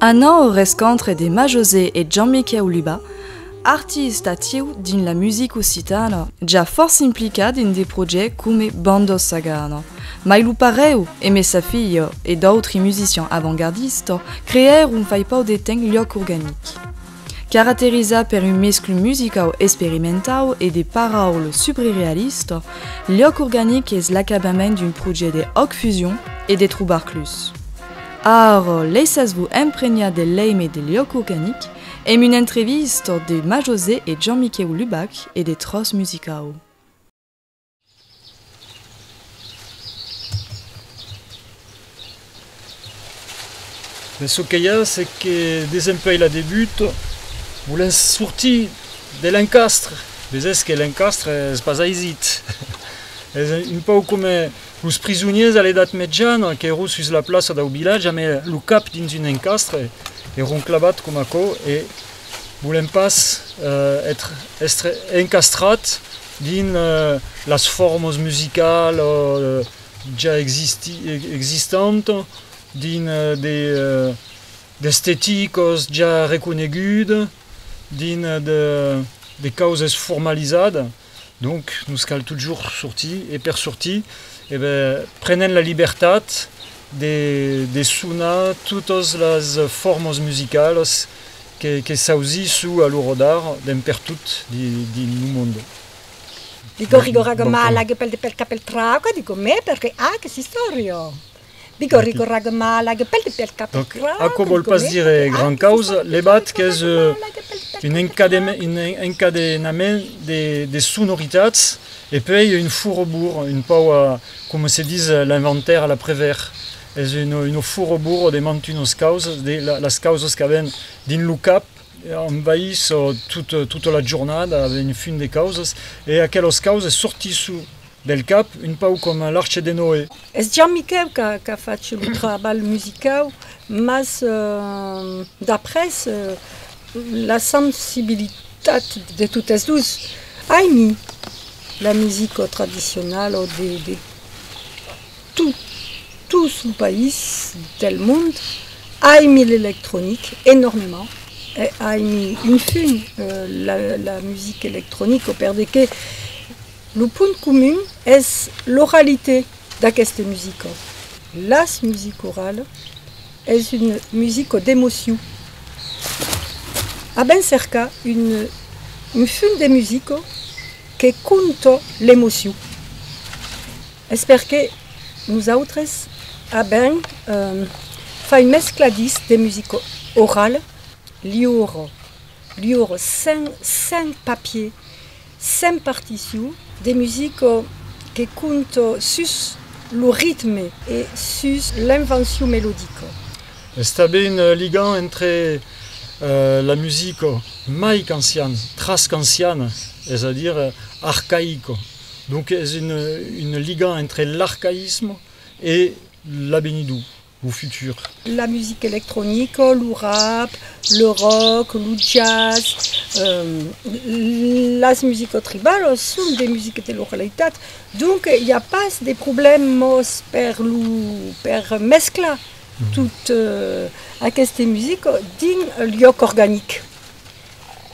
Anant au rescontre de Majosé e Jean-Miquèu Luba, arti estatiu dins la music occitana, ja fòrça implicat dins de projècts coma Bandos Sagana, mai lo parèu Aimé Safillo e d'autri musician avantgardista creèron fai pauc de temps Lloc Organic. Caraterizat per un mescl musicau esperimentau e de paraul subrerealista, Liòc organic es l'acabament d'un projède òc fusion e de trobar clus. Ara, laissatz-vos empregnar del leime de Liòc organic emb una entrevista de Majosé e Jean-Miquèu Lubac e de Tròç musicau. Mès çò que i a, c'est que desempèi la debut, volèm sortir de l'encastre, mès es que l'encastre es pas aisit. es un pauc coma los prisonièrs a l'edat mejana qu'èron sus la plaça dau vilatge amé lo cap dins un encastre, èron clavats coma aquò e volèm pas èstre encastrats, Dins las formas musicalas ja existantas, dins de d'esteticas ja reconegudas, dins de causes formalizadas, donc nos cal totjorn sortir e per sortir prenem la libertat de sonar totas las formas musicalas Que s'ausisso a lo rodar d'en pertot dins lo monde. Digo rigorag mal ag pel de pel ca pel trauca digo me perque ag s'istorio. Digo rigorag mal ag pel de pel ca pel trauca digo me perque ag s'istorio. Aquò vòl pas dire gran causa, levat qu'es un encadenament de sonoritats e puèi un furobur un pauc coma se dis l'inventaire a l'aprevèr. Es un furoburo de mantunos causas, de las causas qu'aven dins lo cap, envais tota la jornada aven un fum de causas, e aquelas causas sortisson del cap un pauc coma l'Arche de Noé. Es Jan Miquèu qu'a fach lo trabalh musicau, mas d'après la sensibilitat de totes dus, aimi la musica tradicionala o de. Tot, tots los país del mond aimi l'electronic enormement e aimi un fin la la music electronic o per de que lo punt comun es l'oralité d'aqueste musico. Las music orale es un musico d'emociu. A ben cercar un un fin de musico que conto l'emociu. Es perque nosautres avèm fai mescla disc de musica orala liura, liura, sen, sen papier, sen partition, de musica que compta sus lo ritme e sus l'invencion melodica. Es tanben ligant entre la musica mai qu'anciana, tras qu'anciana, es a dire arcaica. Donc es une liga entre l'arcaïsme e l'abenidor, lo futur. La musica electronica, lo rap, le rock, lo jazz, las musicas tribalas son de musicas de localitat, donc i a pas de problèmas per lo per mesclar tot aqueste musica dins liòc organic.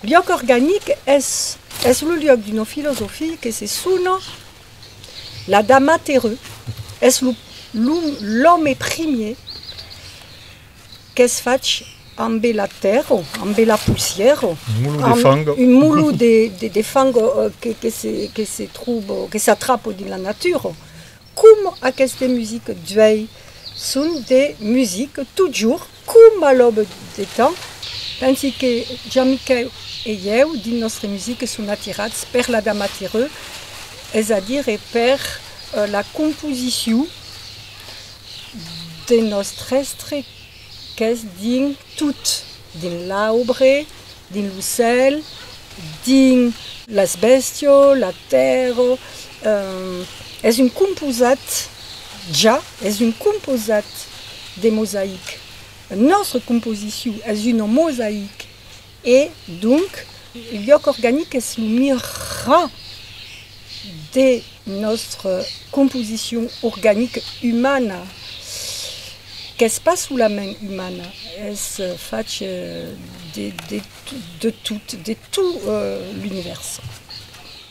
Liòc organic es es lo liòc d'una filosofia que se sona l'Adam aterrut, es lo l'òme primier qu'es fach ambe la tèrra, ambe la poussièra, un molo de fang que se tròba, que s'atrapa dins la natura, Com aqueste music d'uèi son de music totjorn com a l'aube de temps, pensi que Jean-Miquèu e ieu dins nòstre music son atirats per la dama tireu, es a dire per la composicion de nòstre èstre Qu'es dins tot, dins l'aubre, dins lo cèl, dins. Las bèstios, la tèrra, es un composat, ja, es un composat de mosaic. Nòstra composicion es una mosaic. E, donc, lhòc organic es lo mirar de nòstre composicion organica umana, qu'es pas solament umana, es fach de tot, de tot l'univèrs.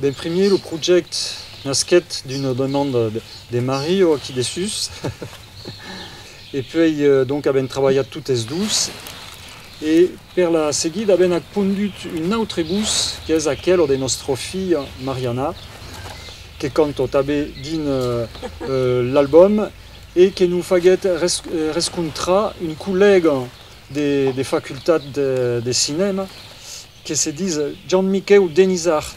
Ben primièr lo projèct nasquèt d'una demanda de Mario aquí dessús e puèi donc avèm trabalhat totes dos e per la seguida avèm ac pondut un autre bus qu'es aquelo de nòstra filha Mariana que canto tanbe dins l'album e que nos faguèt rescontrar un collèga de facultat de cinèma que se dis Jan Miquèu Denisart,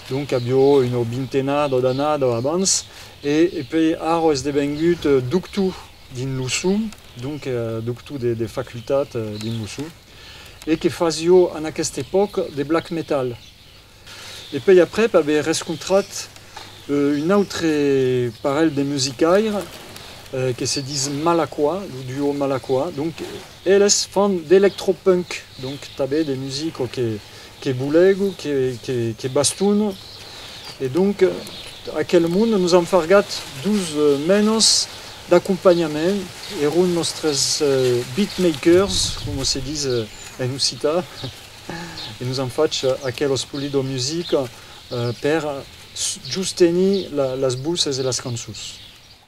donc avió una vintenada d'anada abans, e pè ara es devengut doctor dins lo son, donc doctor de facultat dins lo son, e que fasió en aquesta epòca de black metal. E pè aprèp aver rescontrat un autre parelh de musicaire que se dis Malacquà, lo duo Malacquà, donc. Eles fan d'electropunk, donc tanben de musica que boulègu, que bastona, e donc aquel monde nos an fargat dus menas d'acompanhament, eron nòstres beatmakers, coma se dis en occità, e nos an fach aquela spolida musica per justenir las voces e las cançons.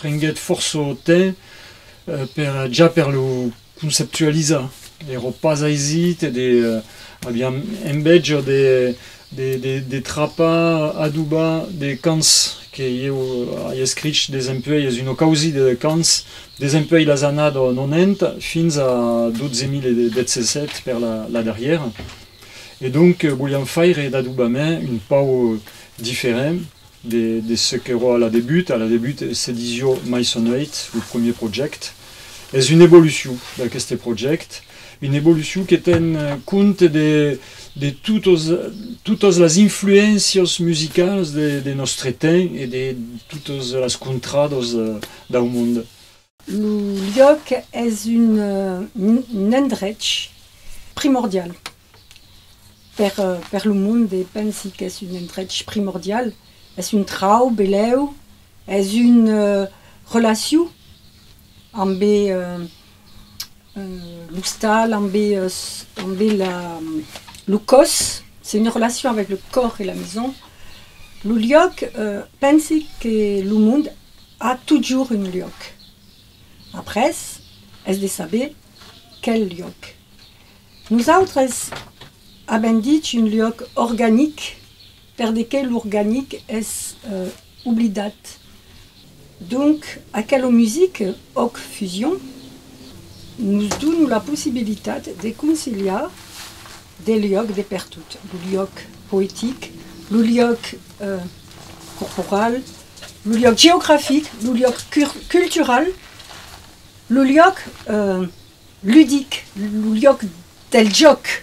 Prenguèt fòrça temps per ja per lo conceptualizar, èra pas aisit e de aviam envèja de trapar, adobar de cants que ieu ai escrich desempuèi es una causida de cants desempuèi las annadas 90 fins a 12017 per la darrièra e donc voliam faire d'adobament un pauc diferent De ce qu'èro a la debut, a la debut se disió Maisoneit, lo premier projècte. Es una evolucion d'aqueste projècte, una evolucion que ten compte de totas las influéncias musicalas de nòstre temps e de totas las contradas dau monde. Lo liòc es un endrech primordial per lo monde, pensi qu'es un endrech primordial, es un trauc belèu, es una relacion ambe l'ostal, ambe lo còs, es una relacion avèc lo còr e la maison. Lo liòc, pensi que lo monde A totjorn un luòc. Après, es de saber quel luòc. Nosautres avèm dich un luòc organic per de que l'organic es oblidat. Donc, aquelo music òc fusion nos dona la possibilitat de conciliar Del luòc de pertot, lo luòc poetic, lo luòc corporal, lo luòc geografic, lo luòc cultural, lo luòc ludic, lo luòc del jòc.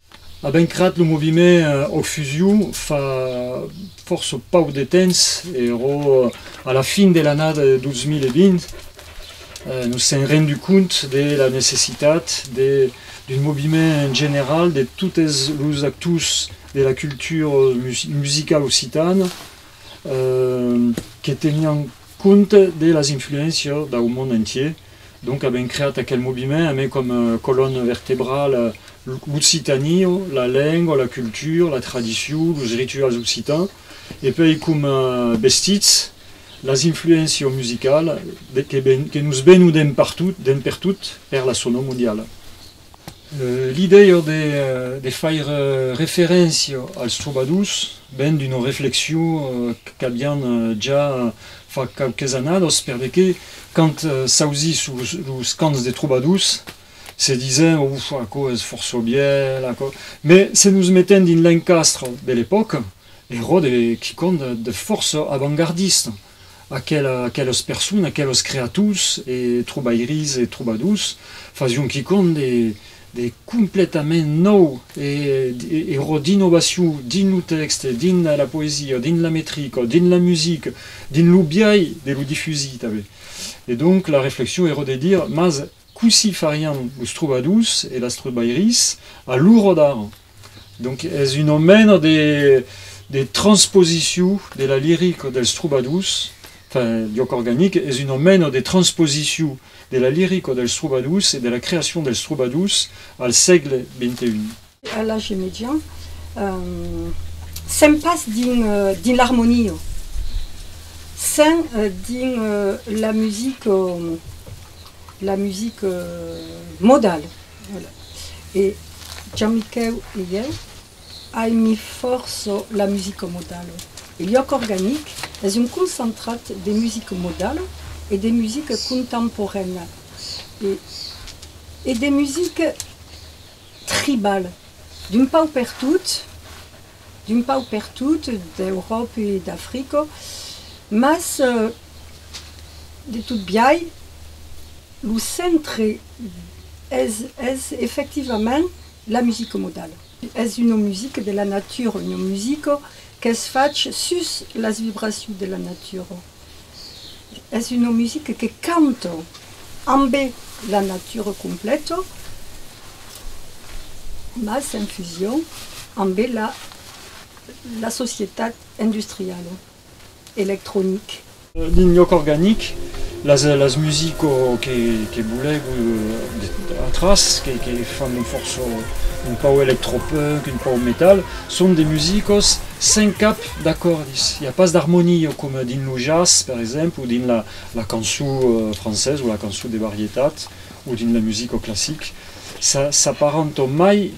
A ben crat lo moviment Ocfusiu fa fòrça pauc de temps, ero a la fin de l'annada de 2020, nos sèm rendut cònt de la necessitat d'un moviment general de totes los actors de la cultura musicala occitana que tenián cònt de las influéncias dau mond entier, Donc avèm creat aquel moviment amé com colonne vertebrale l'occitanie, la lengua, la cultura, la tradicion, los rituals occitans e puèi com vestits, las influéncias musicales que nos venon d'en pertot per la sonor mondiala. L'idèia de faire referéncia als trobadors ven d'una reflexion qu'avián ja fa quauques annadas, per de qué quand s'ausie sus los camps de trobadors se disen Ouf, aquò es fòrça vièlh, aquò. Mai se nos metem dins l'encastre de l'epòca, era de quicòm de fòrça avantgardista. Aquelas personas, aquelas creaturs e trobairis e trobadors fasion quicòm de completament nòu e ua dinovacion dins lo tèxte, dins la poesia, dins la metrica, dins la musica, dins lo biais de lo difusir tanben. E donc la reflexion èra de dire, mas cossí farián los trobadors e las trobairis a l'ora d'ara? Donc es una mena de, de transposition de la lirica dels trobadors, enfin, lloc organic, es una mena de transposition de la lirica dels trobadors e de la creacion dels trobadors al sègle XXI. A l'age median, sèm pas dins l'armonia, sèm dins la musica, la musica modala. Voilà. E Gianmichèu e ieu aimi fòrça la musica modala. E Lloc Organic es un concentrat de musica modala e de musica contemporaina e e de musica tribala d'un pauc pertot, d'un pauc pertot d'Euròp e d'Africa, mas de tot biai lo centre es, es efectivament la musica modala. Es una musica de la natura, una musica qu'es fach sus las vibracions de la natura. Es una musica que canto ambe la natura completa, mas en fusion ambe la la societat industriala, electronic. Dins lloc organic, las las musico que que bolègo atras que que fan fòrça un pauc electropunk, un pauc metal, son de musicos sen cap, d'acòrdis, i a pas d'armonia coma dins lo jazz per exemple o dins la la cançon française o la cançon de varietat o dins la musica classique ça s'apparenta mai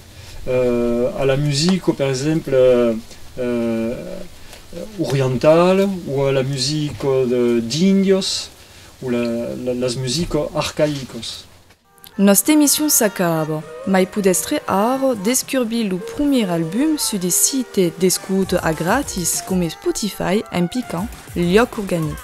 a la musica per exemple orientala o a la musica d'Indios o la las musicas arcaïcas. Nosta emission s'acaba, mai podèstre ara descurbir lo promier album sus de site d'escouta a gratis coma Spotify en picant Lloc Organic.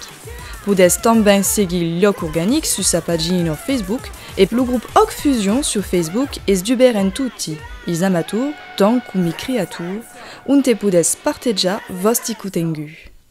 Podètz tanben seguir Lloc Organic sus sa pagina Facebook e lo grop Òc Fusion sur Facebook es dubèrt en toti es amators tant com i creators onte podètz partejar vòsti cotengut.